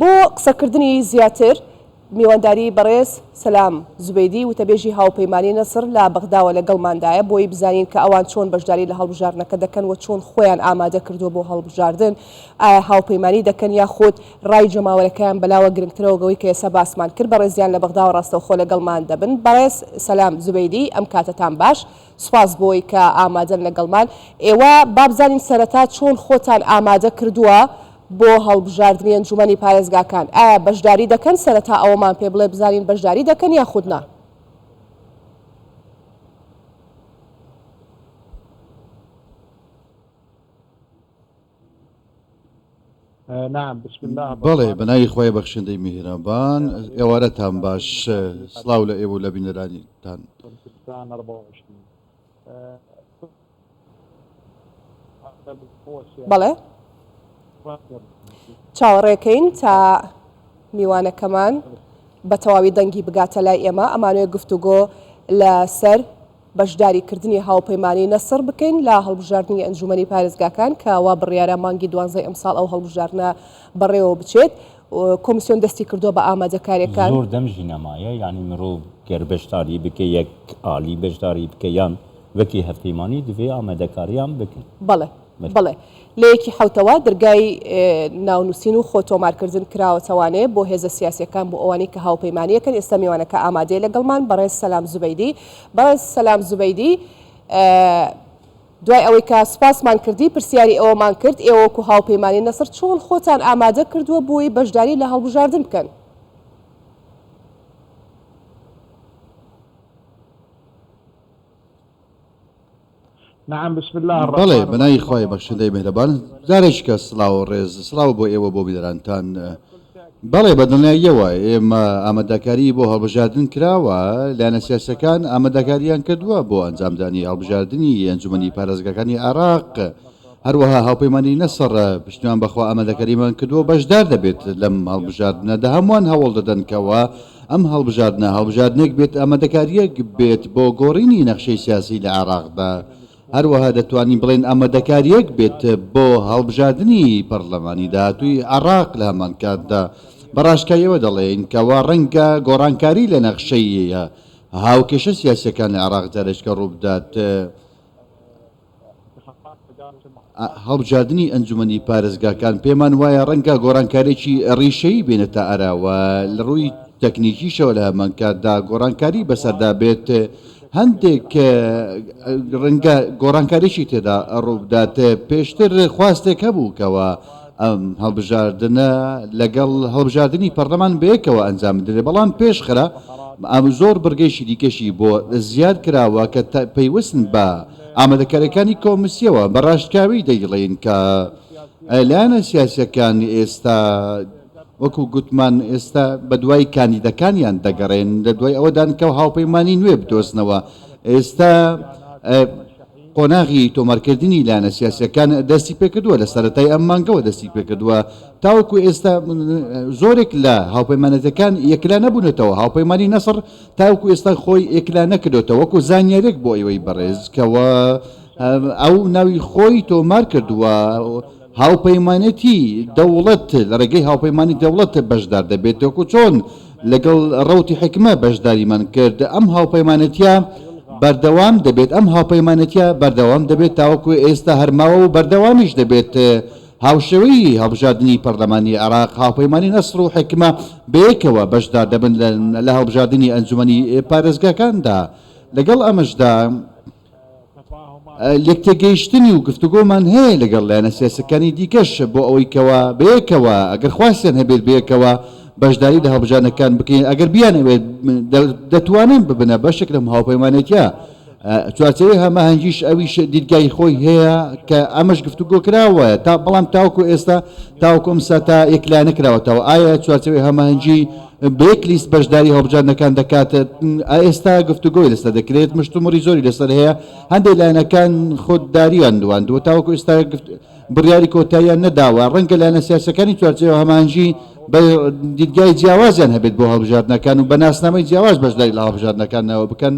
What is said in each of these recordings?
بۆ قسەکردنی زیاتر، میوانداری بەڕێز سەلام زوبەیدی، وتەبێژی هاوپەیمانیی نەسڕ لە بەغداوە لەگەڵماندایە، بۆی بزانین کە ئەوان چۆن بەشداری لە هەڵبژاردنەکە دەکەن و چۆن خۆیان ئامادە کردووە بۆ هەڵبژاردن، ئایا هاوپەیمانی دەکەن یاخود رای جەماوەرەکەیان بەلاوە گرنگترە وگەوەی کە ئێستا باسمان کرد بەڕێزیان لە بەغداوە راستەوخۆ لەگەڵمان دەبن. بەڕێز سەلام زوبەیدی، ئەم کاتەتان باش. سپاس بۆی کە ئامادەن لەگەڵمان. ئێوە با بزانین سەرەتا چۆن خۆتان ئامادە کردووە بۆ هەڵبژاردنی ئەنجوومەنی پارێزگاکان؟ ئایا بەشداری دەکەن؟ سەرەتا ئەوەمان پێ بڵێ بزانین بەشداری دەکەن یاخود نا؟ بەڵێ بەناوی خوای بەخشندەی میهرەبان ئێوارەتان باش سڵاو لە ئێوە و لە بینەرانیتان بەڵێ چاوەڕێکەین تا میوانەکەمان بە تەواوی دەنگی بگاتە لای ئێمە ئەمانوێ گفتوگۆ لەسەر بەشداریکردنی هاوپەیمانیی نەسڕ بکەین لە هەڵبژاردنی ئەنجوومەنی پارێزگاکان کە وا بڕیارە مانگی دوانزەی ئەمساڵ ئەو هەڵبژاردنە بەڕێوە بچێت. کۆمیسیۆن دەستی کردووە بە ئامادەکارییەکان. زۆر دەم ژنەمایە یانی مرۆڤ گەر بەشداری بکە یەک ئالی بەشداری بکە یان وەکی هەڤپەیمانی دڤێ ئامادەکاریان بکەن. بەڵێ. بەڵێ لە یەکی حەوتەوە دەرگای ناونووسین و خۆ تۆمارکردن کراوەتەوانێ بۆ هێزە سیاسیەکان بۆ ئەوانەی کە هاوپەیمانیەکەن ئێستا میوانەکە ئامادەیە لەگەڵمان بەڕێز سەلام زوبەیدی بەڕێز سەلام زوبەیدی دوای ئەوەی کە سوپاسمان کردی پرسیاری ئەوەمان کرد ئێوە وەکو هاوپەیمانی نەسر چۆن خۆتان ئامادە کردووە بۆی بەشداری لە هەڵبژاردن بکەن نعم بسم اللە الرحمن الرحیم بەڵێ بەناوی خوای بەخشندەی میهرەبان جارێکیکە سڵاو و ڕێز سڵاو بۆ ئێوە بۆ بیرەرانتان بەڵێ بە دڵنیاییەوە ئێمە ئامادەکاری بۆ هەڵبژاردن کراوە لایەنە سیاسەکان ئامادەکاریان کردووە بۆ ئەنجامدانی هەڵبژاردنی ئەنجومەنی پارێزگاکانی عێراق هەروەها هاوپەیمانی نەسڕ پشتیوان بە خوائامادە کەریمان کردووە بەشدار دەبێت لەم هەڵبژاردنەدا، هەمووان هەوڵ دەدەن کەوا ئەم هەڵبژاردنە هەڵبژاردنێک بێت ئامادەکارییەک بێت بۆ گۆڕینی نەخشەی سیاسی لە عێراقدا، هەروەها دەتوانین بڵێین ئامادەکارییەک بێت بۆ هەڵبژاردنی پەڕلەمانی داهاتووی عێراق لە هەمان کاتدا بە ڕاشکاوییەوە دەڵێین کەوا ڕەنگە گۆڕانکاری لە نەخشەی هاوکێشە سیاسییەکان لە عێراقدا لەچکەڕووبدات. هەڵبژاردنی ئەنجومەنی پارێزگاکان پێمان وایە ڕەنگە گۆڕانکارێکی ڕیشەیی بێنێتە ئەراوە لە ڕووی تەکنیکیشەوە لە هەمانکاتدا گۆڕانکاری بەسەردا بێت هەندێک ڕەنگە گۆڕانکاریشی تێدا ڕووبدات پێشتر خواستێک هەبوو کەەوە ئەم هەڵبژاردنە لەگەڵ هەڵبژاردننی پەرلەمان بەیەکەوە ئەنجام بدرێت بەڵام پێشخرا ئەم زۆر بڕگەیشی دیکەشی بۆ زیاد کراوە کە پەیوەستن بە ئامادەکارەکانی کۆمسیەوە بە ڕاشکاوی دەیڵێن کە لایەنە سیاسیەکان ئێستا وەکو گوتمان ئێستا بە دوای کاندیدەکانیان دەگەڕێن لە دوای ئەوەدان کە هاوپەیمانی نوێ بدۆزنەوە ئێستا قۆناغی تۆمارکردنی لایەنە سیاسیەکان دەستی پێکردووە لە سەرەتای ئەم مانگەوە دەستی پێکردووە تاوەکو ئێستا زۆرێک لە هاوپەیمانەتەکان یەکلا نەبوونەتەوە هاوپەیمانی نەسڕ تاوەکو ئێستا خۆی ئێکلا نەکردۆتە وەکو زانیارێک بۆ ئێوەی بەڕێز کەەوە ئەو ناوی خۆی تۆمار کردووە هاوپەیمانێتی دەوڵەت لە ڕێگەی هاوپەیمانانی دەوڵەت بەشدار دەبێت دۆکو چۆن لەگەڵ ڕوتی حکمە بەشداریمان کرد ئەم هاوپەیمانەتە بەردەوام دەبێت ئەم هاوپەیمانەتە بەردەوام دەبێت تاوەکو ئێستا هەرماوە و بەردەوامیش دەبێت هاوشێوەی هەڵبژاردنی پەرلەمانی عێراق، هاوپەیمانی نەسڕ و حیکمە بەیەکەوە بەشدار دەبن لە هەڵبژاردنی ئەنجوومەنی پارێزگاکاندا، لەگەڵ ئەمەشدا لێکتێگەیشتنی و گفتوگۆمان هەیە لەگەڵ لایەنە سیاسیەکانی دیکەش بۆ ئەوەی کەوا بەیەکەوە ئەگەر خواستیان هەبێت بەیەکەوە بەشداری لە هەڵبژاردنەکان بکەین ئەگەر بیانەوێت دەتوانن ببنە بەشێک لەم هاوپەیمانێتیە چوارچێوەی هەماهەنگیش ئەویش دیدگای خۆی هەیە کە ئەمەش گفتوگۆ کراوە تا بەڵام تاوکو ئێستا تاوکو ئەم ساتا یەکلا نەکراوەتەوە ئایا چوارچێوەی هەماهەنگی بێک لیست بەشداری هەڵبژاردنەکان دەکات ئێستا گفتوگۆی لەسەر دەکرێت مشتومڕی زۆری لەسەر هەیە هەندێک لایەنەکان خۆدداریان دواندووە تاوەکو ئێستا بڕیاری کۆتاییان نەداوە ڕەنگە لایەنە سیاسەکانی چوارچێوە هەمانجی بە دیدگای جیاوازیان هەبێت بۆ هەڵبژاردنەکان و بە ناسنامەی جیاواز بەشداری لە هەڵبژاردنەکانەوە بکەن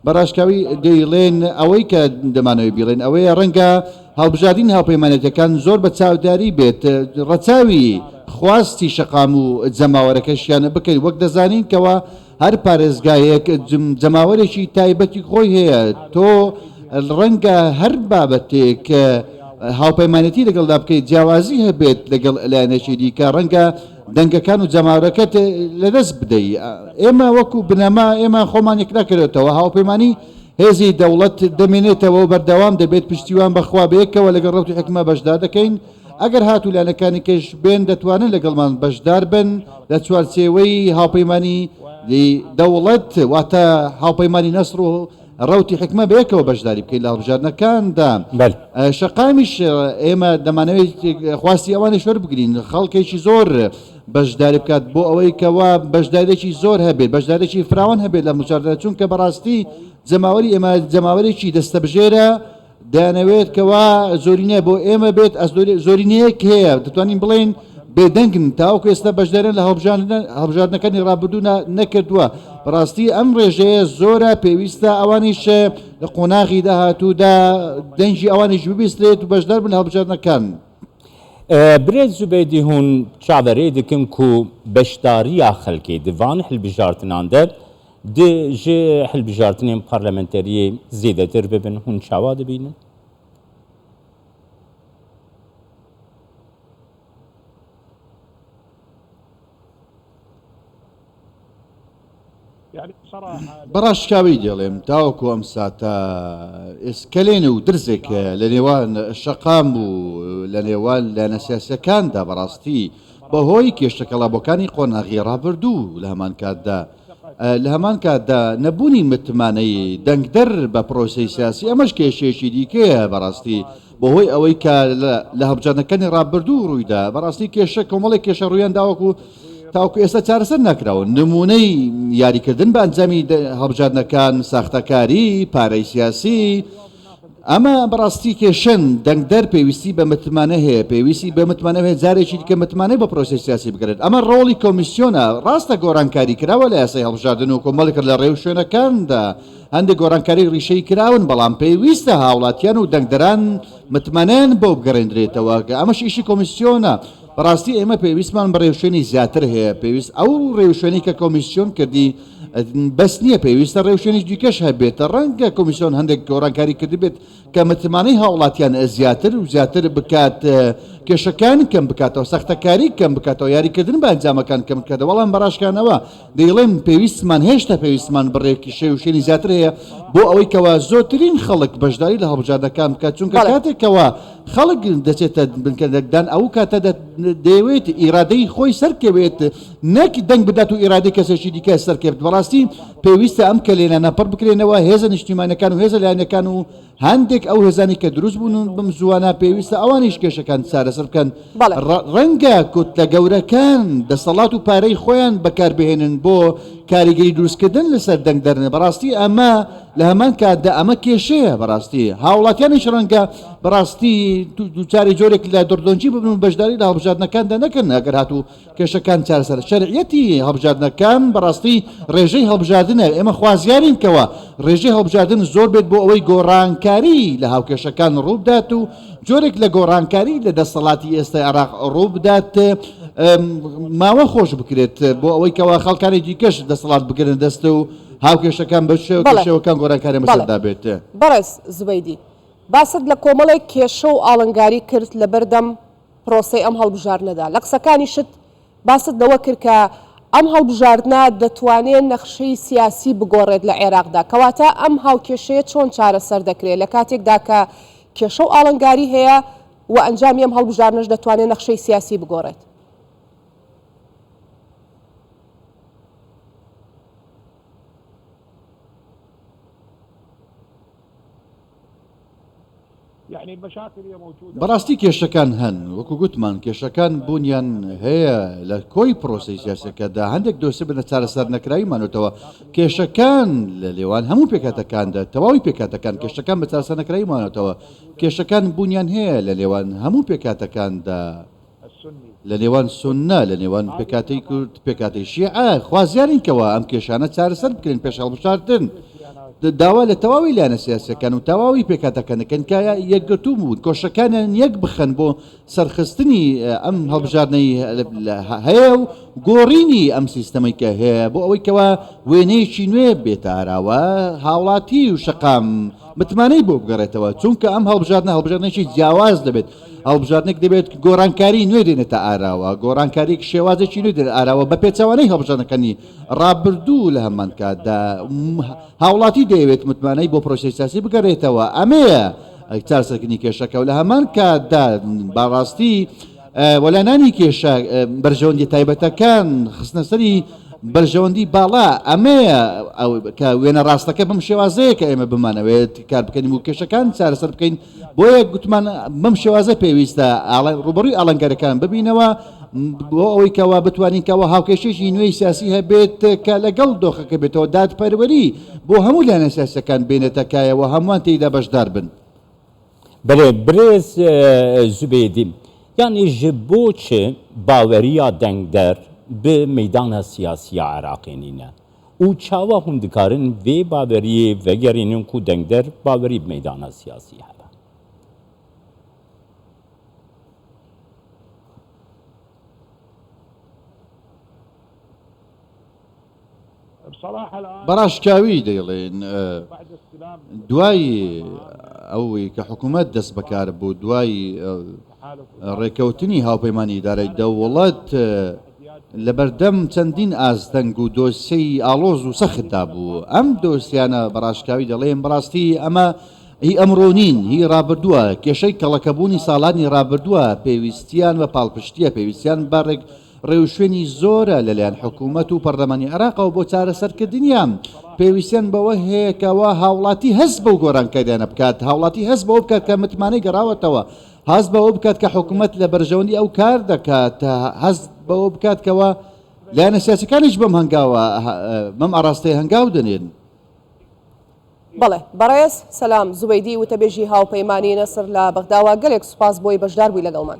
بە ڕاشکاوی دەیڵێن، ئەوەی کە دەمانەوێت بیڵێن ئەوەیە، ڕەنگە هەڵبژاردنی هاوپەیمانێتییەکان زۆر بە چاوداری بێت ڕەچاوی خواستی شەقام و جەماوەرەکەشیان بکەین، وەک دەزانین کەوا هەر پارێزگایەک جەماوەرێکی تایبەتی خۆی هەیە، تۆ ڕەنگە هەر بابەتێک کە هاوپەیمانێتی لەگەڵدا بکەیت جیاوازی هەبێت لەگەڵ لایەنێکی دیکە، ڕەنگە دەنگەکان و جەماورەکەت لەدەست بدەی ئێمە وەکو بنەما ئێمە خۆمان یەکنەکەێتەوە هاوپەیمانی هێزی دەوڵەت دەمێنێتەوە و بەردەوام دەبێت پشتیوان بەخوا بەیەکەوە لەگەڵ ڕوتی حکمە بەشدار دەکەین ئەگەر هاتوو لایەنەکانی کەش بێن دەتوانن لەگەڵمان بەشدار بن لە چوارچێوەی هاوپەیمانی دەوڵەت واتە هاوپەیمانی نەسر و ڕەوتی حکمە بەیەکەوە بەشداری بکەین لە هەڵبژاردنەکاندا بەل شەقامیش ئێمە دەمانەوەی خواستی ئەوانش وەربگرین خەڵکێکی زۆر بەشداری بکات بۆ ئەوەی کەوا بەشدارێکی زۆر هەبێت بەشدارێکی فراوان هەبێت لە مجاردە چونکە بەڕاستی جەماوەری ئێمە جەماوەرێکی دەستەبژێرە دەیانەوێت کەوا زۆرینە بۆ ئێمە بێت زۆرینەیەک هەیە دەتوانین بڵێن بێدەنگن تاوەکو ئێستا بەشدارن لە هەڵبژاردنەکانی ڕابردوو نەکردووە بەڕاستی ئەم ڕێژەیە زۆرە پێویستە ئەوانیش لە قۆناغی داهاتوودا دەنگی ئەوانیش ببیسترێت و بەشدار بن هەڵبژاردنەکان. برێت زوبێدی هون چاوەرێ دکن کو بەشداریە خەلکی دڤان هەلبژاردنان دە دێ ژێ هەلبژاردنێن پارلمنتەریێ زێدەتر ببن هون چاوا دبینن. بە ڕاشکاوی دێڵێم تاوەکو ئەم ساتە ئێسکەلێن و درزێک لە نێوان شەقام و لە نێوان لە نەسیاسەکاندا بەڕاستی بەهۆی کێشتەکەڵابەکانی قۆناغی ڕابردوو لە هەمان کاتدا لە هەمان کاتدا نەبوونی متمانەی دەنگدەر بە پرۆسەی سیاسی ئەمەش کێشەیەکی دیکەیە بەڕاستی بەهۆی ئەوەی کە لە هەڵبژاردنەکانی ڕابردوو ڕوویدا بەڕاستی کێشە کۆمەڵی کێشە ڕوویان داوەکو تاوکو ئێستا چارەسەر ناکراوە نمونەی یاریکردن بە ئەنجامی هەڵبژاردنەکان ساختەکاری پارەی سیاسی ئەمە بەڕاستی کێشەن دەنگدەر پێویستی بە متمانە هەیە پێویستی بە متمانە هەیە جارێکی دیکە متمانە بە پرۆسی سیاسی بگرێت ئەمە ڕۆڵی کۆمیسیۆنە ڕاستە گۆڕانکاری کراوە لە یاسای هەڵبژاردن و کۆمەڵێک لە ڕێو شوێنەکاندا هەندێک گۆڕانکاری ڕیشەی کراون بەڵام پێویستە هاوڵاتیان و دەنگدەران متمانەیان بۆ بگەڕێندرێتەوە کە ئەمەش ئیشی کۆمیسیۆنە بەڕاستی ئێمە پێویستمان بە ڕێوشوێنی زیاتر هەیە پێویست ئەو ڕێوشوێنی کە کۆمیسیۆن کردی بەس نییە پێویستە ڕێوشێنی دیکەش هەبێت ڕەنگە کۆمیسیۆن هەندێک گۆڕانکاری کردبێت کە متمانەی هاوڵاتیان زیاتر و زیاتر بکات کێشەکان کەم بکاتەوە سەختەکاری کەم بکاتەوە یاریکردن بە ئەنجامەکان کەم بکاتەوە بەڵام بەڕاشکانەوە دەیڵێن پێویستمان هێشتا پێویستمان بڕێکی شێ و شێنی زیاتر هەیە بۆ ئەوەی کەوا زۆترین خەڵک بەشداری لە هەڵبژاردەکان بکات چونکە بەڵێ. کاتێک کەوا خەڵک دەچێتە بنکە دەنگدان ئەوو کاتە دە دەیەوێت ئیرادەی خۆی سەرکەوێت نەک دەنگ بدات و ئیرادەی کەسێکی دیکە سەرکەوێت بەڕاستی پێویستە ئەم کەلێنانە پڕ بکرێنەوە هێزە نیشتیمانەکان و هێزە لایەنەکان و هەندێک ئەو هێزانەی کە دروست بوون و بم زووانە پێویستە ئەوانیش کێشەکان چارەسەر بکەن بەڵێ. ڕە- ڕەنگە کوتلە گەورەکان دەسەڵات و پارەی خۆیان بەکاربهێنن بۆ کاریگەری دروستکردن لەسەر دەنگ دەرنە بەڕاستی ئەمە لە هەمان کاتدا ئەمە کێشەیە بەڕاستی هاوڵاتیانیش ڕەنگە بەڕاستی دوو- دووچاری جۆرێک لە دڕدۆنگی ببن و بەشداری لە هەڵبژاردنەکاندا نەکەن ئەگەر هاتوو کێشەکان چارەسەر شەرعیەتی هەڵبژاردنەکان بەڕاستی ڕێژەی هەڵبژاردنە، ئێمە خوازیارین کەوا ڕێژەی هەڵبژاردن زۆر بێت بۆ ئەوەی گۆڕانکاری لە هاوکێشەکان ڕووبدات و جۆرێک لە گۆڕانکاری لە دەستەڵاتی ئێستای عێراق ڕووبدات ماوە خۆش بکرێت بۆ ئەوەی کەوا خەڵکانی دیکەش دەستەڵات بگرن دەست و هاوکێشەکان بەشێوەکان گۆرانکاری مەسەردا بێت بەڕێز زبەیدی باست لە کۆمەڵێک کێشە و ئاڵنگاری کرد لەبەردەم پرۆسەی ئەم هەڵبژاردنەدا. لە قسەکانیشت باست لەوە کرد کە ئەم هەڵبژاردنە دەتوانێت نەخشەی سیاسی بگۆڕێت لە عێراقدا، کەواتە ئەم هاوکێشەیە چۆن چارەسەر دەکرێت، لە کاتێکدا کە کێشە و ئاڵنگاری هەیە و ئەنجامی ئەم هەڵبژاردنەش دەتوانێت نەخشەی سیاسی بگۆڕێت؟ بەڕاستی کێشەکان هەن، وەکو گوتمان کێشەکان بوونیان هەیە لە کۆی پرۆسەی سیاسەکەدا هەندێک دۆسێ بنە چارەسەر نەکراوی مانەوەتەوە کێشەکان لە لێوان هەموو پێکاتەکاندا تەواوی پێکاتەکان کێشەکان بە چارەسەر نەکراوی مانەوەتەوە کێشەکان بوونیان هەیە لە لێوان هەموو پێکاتەکاندا. لە نێوان سوننە، لە نێوان پێکهاتەی کورد، پێکهاتەی شیعە، خوازیارین کەوا ئەم کێشانە چارەسەر بکرێن، پێش هەڵبژاردن داوا لە تەواوی لایەنە سیاسییەکان و تەواوی پێکهاتەکان دەکەین کە یەکگرتوو بوون، کۆششەکانیان یەک بخەن بۆ سەرخستنی ئەم هەڵبژاردنەی هەیە و گۆڕینی ئەم سیستەمەی کە هەیە بۆ ئەوەی کەوا وێنەیەکی نوێ بێتە ئاراوە هاوڵاتی و شەقام متمانەی بۆ بگەڕێتەوە، چونکە ئەم هەڵبژاردنە هەڵبژاردنێکی جیاواز دەبێت. هەڵبژاردنێک دەبێت گۆڕانکاری نوێ دێنێتە ئاراوە گۆڕانکاریێک شێوازێکی نوێ دێن ئاراوە بە پێچوانەی هەڵبژاردنەکانی ڕابردوو لە هەمان کاتدا هاوڵاتی دەیەوێت متمانەی بۆ پرۆسی سیاسی بگەڕێتەوە ئەمەیە چار سەرکردنی کێشەکە و لە هەمان کاتدا باڕاستی وەلانانی کێشە بەرژەوەندی تایبەتەکان خستنەسەری بەرژەوەندی باڵا ئەمەیە کە وێنە ڕاستەکە بم شێوازەیە کە ئێمە بمانەوێت کار بکەین و کێشەکان چارەسەر بکەین بۆیە گوتمان بەم شێوازە پێویستە ڕوبەڕوی ئاڵنگەرەکان ببینەوە بۆ ئەوەی کەوا بتوانین کەەوە هاوکێشێکی نوێی سیاسی هەبێت کە لەگەڵ دۆخەکە بێتەوە دادپەروەری بۆ هەموو لایەنە سیاسەکان بێنێتەکایەوە هەمووان تێیدا بەشدار بن. بەێ برێز زوبێدی یانیش بۆچ باوەریا دەنگدەر ب مەدانە سیاسیە عراقێنینە؟ ئو چاوا هوون دکارن ڤێ باڤەریێ ڤەگەرێنن کو دەنگدەر باڤەری بمەیدانا سیاسی هەبا. بەڕاشکاوی دەیڵێن دوای ئەوەی کە حکومەت دەست بەکار بوو دوای ڕێککەوتنی هاوپەیمانی ئیدارەی دەوڵەت لەبەردەم چەندین ئاستەنگ و دۆسیەی ئاڵۆز و سەختدا بوو، ئەم دۆسیانە بە ڕاشکاوی دەڵێم بەڕاستی ئەمە هی ئەمڕۆ نین، هی ڕابردووە، کێشەی کەڵەکەبوونی ساڵانی ڕابردووە، پێویستیان بە پاڵپشتییە، پێویستیان بە ڕێوشوێنی زۆرە لەلایەن حکوومەت و پەڕلەمانی عێراقەوە بۆ چارەسەرکردنیان، پێویستیان بەوە هەیە کەوا هاوڵاتی هەست بەو گۆرانکاریانە بکات، هاوڵاتی هەست بەوە بکات کە متمانەی گەڕاوەتەوە، هەست بەوە بکات کە حکوومەت لە بەرژەوەندی ئەو کار دەکات، هەست بەوە بکات کەوا لایەنە سیاسیەکانیش بەم هەنگاوە بەم ئاڕاستەیە هەنگاو دەنێن. بەڵێ. بەڕێز سەلام زوبەیدی وتەبێژی هاوپەیمانیی نەسر لە بەغداوە، گەلێک سوپاس بۆی بەشداربووی لەگەڵمان.